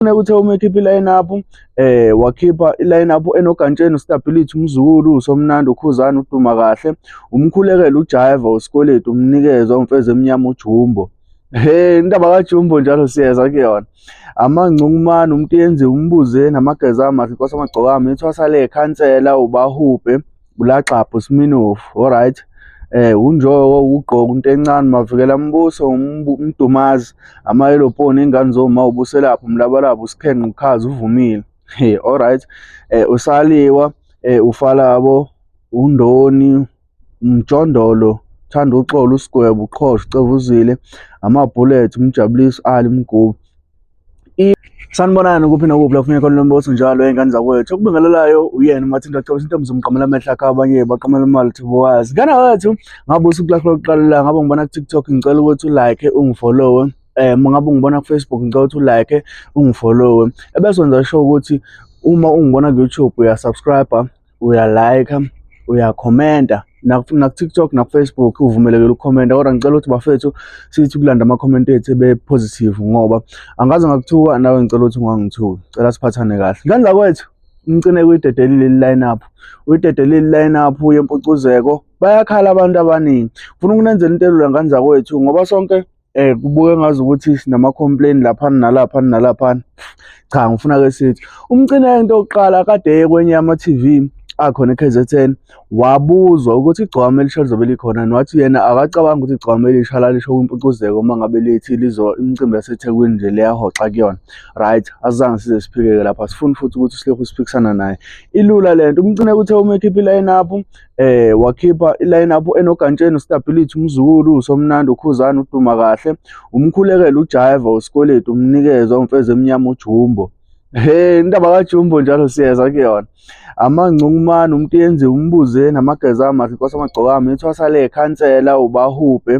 Kufuneka uthe uma ekhipha i-line-up um eh, wakhipha i-line-up enogantsheni ustability umzukulu usomnandi ukhuzana uduma kahle umkhulekela ujaiva usikweletu umnikeza umfeza emnyama ujumbo Hey indaba kaJumbo njalo siyeza kuyona. Amangcungumane umuntu yenze umbuze namageza amahle inkosi amagcokama ithwasa le khansela ubahubhe Bulaxapho Sminofu alright eh unjoko ugqoka into encane mavikela mbuso umdumazi amayeloponi ingane zoma ubuselapha umlabalaba usikhenqa ukhaza uvumile hey alright eh usaliwa eh ufalabo undoni umjondolo thanda uxolo usigwebo uqhosha ucevuzile amabhullet umjabuliso ali mgubu sanibonani kuphi nokuphi la kufuneka khona lo mbuso njalo ey'ngane zakwethu okubingelelayo uyena uma thinta cebisa into mzomqamela amehlo akhe abanye baqamela imali thibo wazi ngane wethu ngabe usuku lakho lokuqala la ngabe ngibona ku-tiktok ngicela ukuthi ulike ungifollowe um ngabe ungibona kufacebook ngicela ukuthi ulike ungifollowe ebese wenza sho ukuthi uma ungibona ku-youtube uyasubscribe uyalayikha uyakhomenta naku-tiktok naku-facebook uvumelekele ukukhomenta kodwa ngicela ukuthi bafethu sithi ukulanda amakhomenti ethu ebe-positive ngoba angaze ngakuthuka nawe ngicela ukuthi ungangithuki cela siphathane kahle ngandla kwethu umcine kuyidedelile iline up uyidedelile iline up yempucuzeko bayakhala abantu abaningi funa ukunenzela into elula ngani zakwethu ngoba sonke eh kubuke ngazi ukuthi sinama complain lapha nalapha nalapha cha ngifuna ke sithi umcina into oqala kade yekwenye ama TV akhona eKZN wabuzwa ukuthi igcwama elisha lizobe likhona nwathi yena akacabanga ukuthi igcwama elisha lalisho kwimpucuzeko uma ngabe lithi lizo imicimbi yaseThekwini nje leyahoxa kuyona right azange size siphikeke lapha sifuni futhi ukuthi silokhu siphikisana naye ilula lento umcine kuthe uma ekhipha iline up eh wakhipha iline up enogantsheni ustability umzukulu usomnandi ukhuzana uduma kahle umkhulekele ujaiva usikweletu umnikeza umfeze emnyama ujumbo Hey indaba kaJumbo njalo siyeza kuyona. Amangcungumani umuntu yenziwe umbuze namageza amahle inkosi amagcokama ithwasa le khansela ubahubhe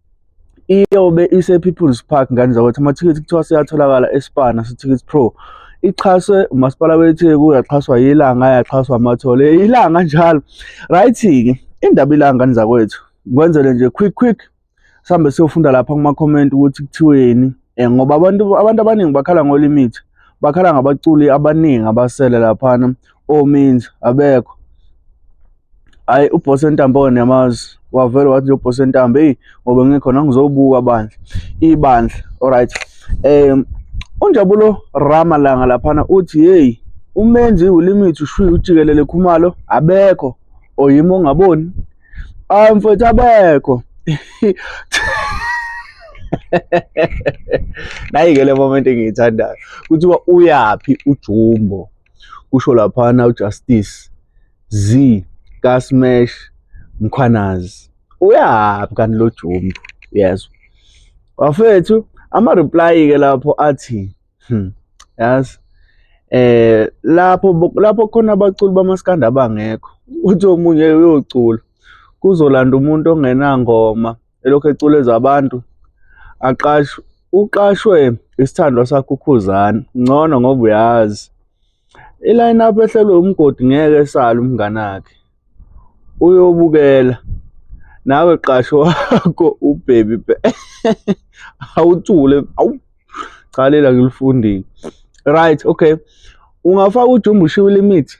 iyobe ise-people's park ngane zakwethu amathikithi kuthiwa seyatholakala espana sithikithi pro ixhaswe umasipala wetheku yaxhaswa yilanga yaxhaswa amathole ilanga njalo right-ke indaba ilanga ngane zakwethu kwenzele nje quick quick sihambe siyofunda lapha kuma-comment ukuthi kuthiweni um ngoba abantu abantu abaningi bakhala ngolimithi bakhala ngabaculi abaningi abasele laphana ominzi abekho hayi ubhosi entambo onemazi wavele wathi ubhosi entambo eyi ngoba ngikhona ngizobuka bandla ibandla alright um unjabulo ramalanga laphana uthi yeyi umenzi ulimithi ushwiya ujikelele khumalo abekho oyima ongaboni hayi mfethu abekho nayi-ke le moment engiyithandayo kuthiwa uyaphi ujumbo kusho laphana ujustice z kasmash mkhwanazi uyaphi kanti lo jumbo yezwa wafethu ama-reply ke lapho athi hmm, yazi eh lapho lapho khona abaculi bamaskanda abangekho uthi omunye uyocula kuzolanda umuntu ongenangoma elokhu eculeza abantu aqashwe uqashwe isithandwa sakho ukhuzani ngcono ngoba uyazi iline up ehlelwe umgodi ngeke esale umngane wakhe uyobukela nawe qasho wakho ubhebi awuthule awu cha lela ngilifundile right okay ungafaka ujumbo ushiwe limit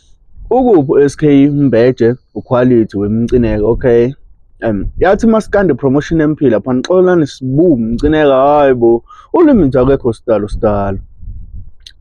Ukuphi uSK Mbeje uquality wemcineka okay. Um yathi masikande promotion emphila phana xolani sibu mcineka hayibo ulimi nje akekho sidalo sidalo.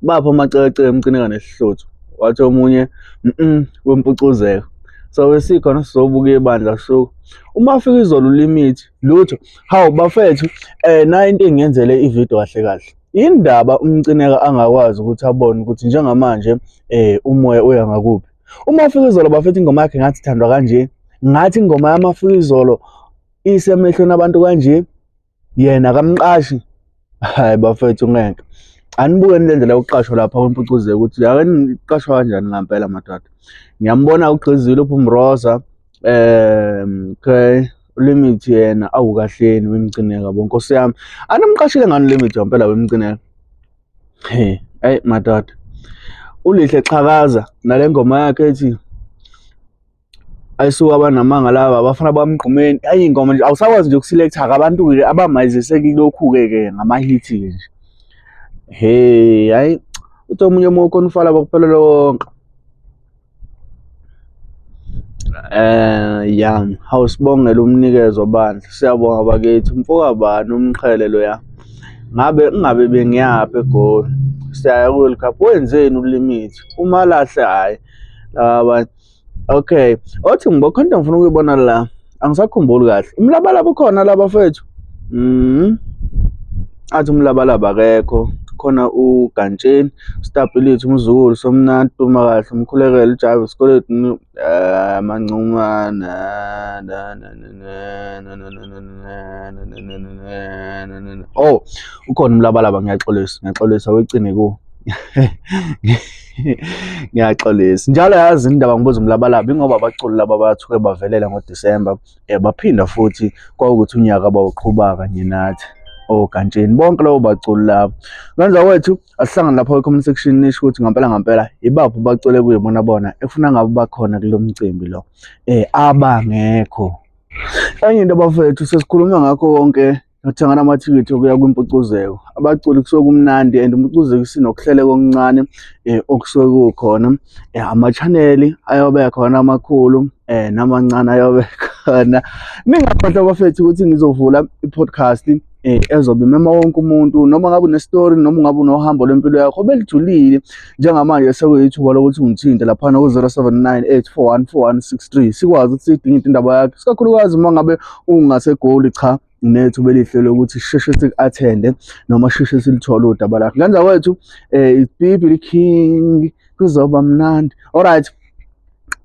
Bapha amacece emcineka nesihluthu wathi omunye mhm wempucuzeka. So sikhona sizobuka ibandla so uma afika izolo limithi lutho hawu bafethu eh nayo into engenzele ivideo kahle kahle. Yini ndaba umcineka angakwazi ukuthi abone ukuthi njengamanje eh umoya uya ngakuphi? Uma ufika izolo bafethu ingoma yakhe ngathi ithandwa kanje, ngathi ingoma yamafika izolo isemehlweni abantu kanje, yena kamqashi. Hayi bafethu ngeke. Anibukeni le ndlela yokuqashwa lapha kwempucuze ukuthi ake niqashwa kanjani ngampela madoda. Ngiyambona ugqizile uPhumroza. um okay limit yena awukahleni wemcineka bo nkosi yami animqashile ngani limit wampela wemcineka he ayi madoda ulihle xhakaza nale ngoma yakhe ethi ayisuka abanamanga laba abafana bamgqumeni ayi ingoma nje awusakwazi nje ukuselectha-ke abantu ke abamayizise kilokhu-ke ke ngamahithi-ke nje he hayi uthi omunye uma ukhona ufala bakuphelela wonke Eh ya awusibongela umnikezo bandla siyabonga bakithi mfokabani umqhele loya ngabe ingabe bengiyaphi egoli siyaya ku-world cup wenzeni ulimithi umalahle hhayi laba abanye okay othi ngibokhonto ngifuna ukuyibona la angisakhumbuli kahle umlabalaba ukhona laba fethu mm athi umlabalaba akekho khona ugantsheni ustapilitha umzukulu somnandi tuma kahle umkhulekele ujava isikweletu amancumana oh ukhona umlabalaba ngiyaxolisa ngiyaxolisa wecine ku ngiyaxolisa njalo yazi indaba ngibuza umlabalaba ingoba abaculi laba bathuke bavelela ngodisemba um eh, baphinda futhi kwawukuthi unyaka bawuqhuba kanye nathi ogantsheni bonke labo baculi labo kwenza kwethu asihlangane lapho kwi-comment section nisho ukuthi ngampela ngampela yibaphi bacule kuye bona bona efuna ngabe bakhona kulo mcimbi lo um abangekho enye into bafethu sesikhuluma ngakho konke nokuthengana amathikithi okuya kwimpucuzeko abaculi kusuke kumnandi and impucuzeko isinokuhleleka okuncane um okusuke kukhona um eh, ama-chaneli ayobe khona amakhulu um eh, namancane ayobe khona ningakhohlwa bafethu ukuthi ngizovula i-podcast eh ezobe mema wonke umuntu noma ngabe unestori noma ngabe unohambo lwempilo yakho belujulile njengamanje sekuyithuba lokuthi ungithinte laphana ku-0798414163 sikwazi ukuthi sidingide indaba yakhe sikakhulukazi uma ngabe ungasegoli cha nethu belihle lokuthi sheshe siku-athende noma sheshe silithole udaba lakhe kanza kwethu um eh, ipipi liking kuzoba mnandi alright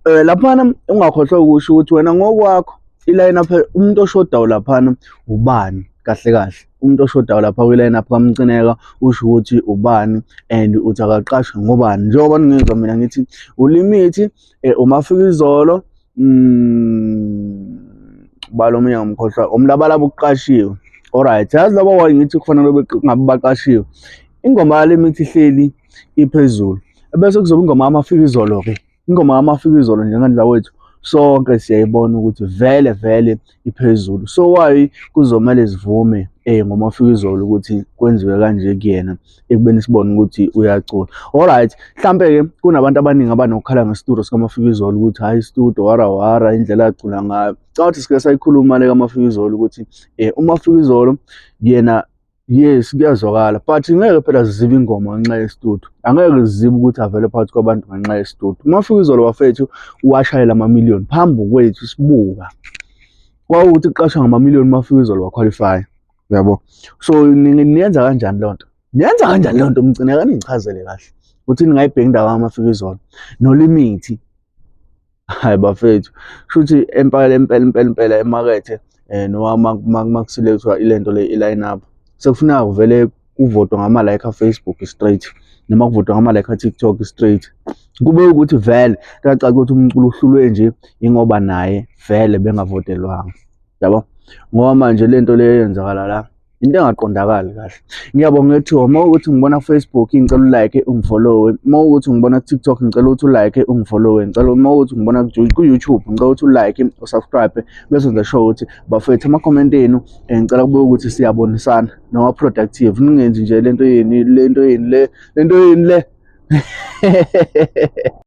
eh laphana ungakhohlwa ukusho ukuthi wena ngokwakho iline up umuntu oshodayo laphana ubani kahle kahle umuntu oshodayo lapha kwi-line up kamcineka usho ukuthi ubani and uthi akaqashwe ngobani njengoba ningizwa mina ngithi ulimithi um eh, umafika izolo um bala omunye ngomkhohlwa umlabalaba ukuqashiwe alright yazi laba wayi ngithi kufanele ngabe baqashiwe ingoma yalemithi ihleli iphezulu ebese kuzoba ingoma yamafika izolo ke ingoma yamafika izolo njengandla wethu sonke siyayibona ukuthi vele vele iphezulu so why kuzomele sivume eh ngoma ufika izolo ukuthi kwenziwe kanje kuyena ekubeni sibone ukuthi uyacula all right mhlambe ke kunabantu abaningi abanokukhala ngestudio sikamafika izolo ukuthi hayi istudio wara wara indlela acula ngayo cha uthi sike sayikhuluma le kamafika izolo ukuthi eh umafika izolo yena yes kuyazwakala but ngeke phela zizibe ingoma ngenxa yesitudu angeke zizibe ukuthi avele phakathi kwabantu ngenxa yesitudu uma fika izolo bafethu washayela amamiliyoni phambi kwethu sibuka kwawukuthi kuqashwa ngamamiliyoni uma fika izolo wakhwalifaya uyabo so niyenza kanjani loo nto niyenza kanjani loo nto mgcine kaningichazele kahle ukuthi ningayibheki indawo amafika izolo nolimithi hayi bafethu shuthi empela impela impela impela emakethe eh noma makuselekthwa ilento le i-line up sekufuneka kuvele kuvotwe ngama like a Facebook straight noma kuvotwe ngama like a TikTok straight kube ukuthi vele kacaca ukuthi umculo uhlulwe nje ingoba naye vele bengavotelwanga yabo ngoba manje lento le yenzakala la into engaqondakali kahle ngiyabonga ukuthi uma ukuthi ngibona Facebook ngicela ulike ungifollowe uma ukuthi ngibona TikTok ngicela ukuthi ulike ungifollowe ngicela uma ukuthi ngibona ku YouTube ngicela ukuthi ulike usubscribe bese ngisho sure ukuthi bafethu ama comment enu eh, ngicela kube ukuthi siyabonisana noma productive ningenzi nje lento yeni lento yeni le lento yeni le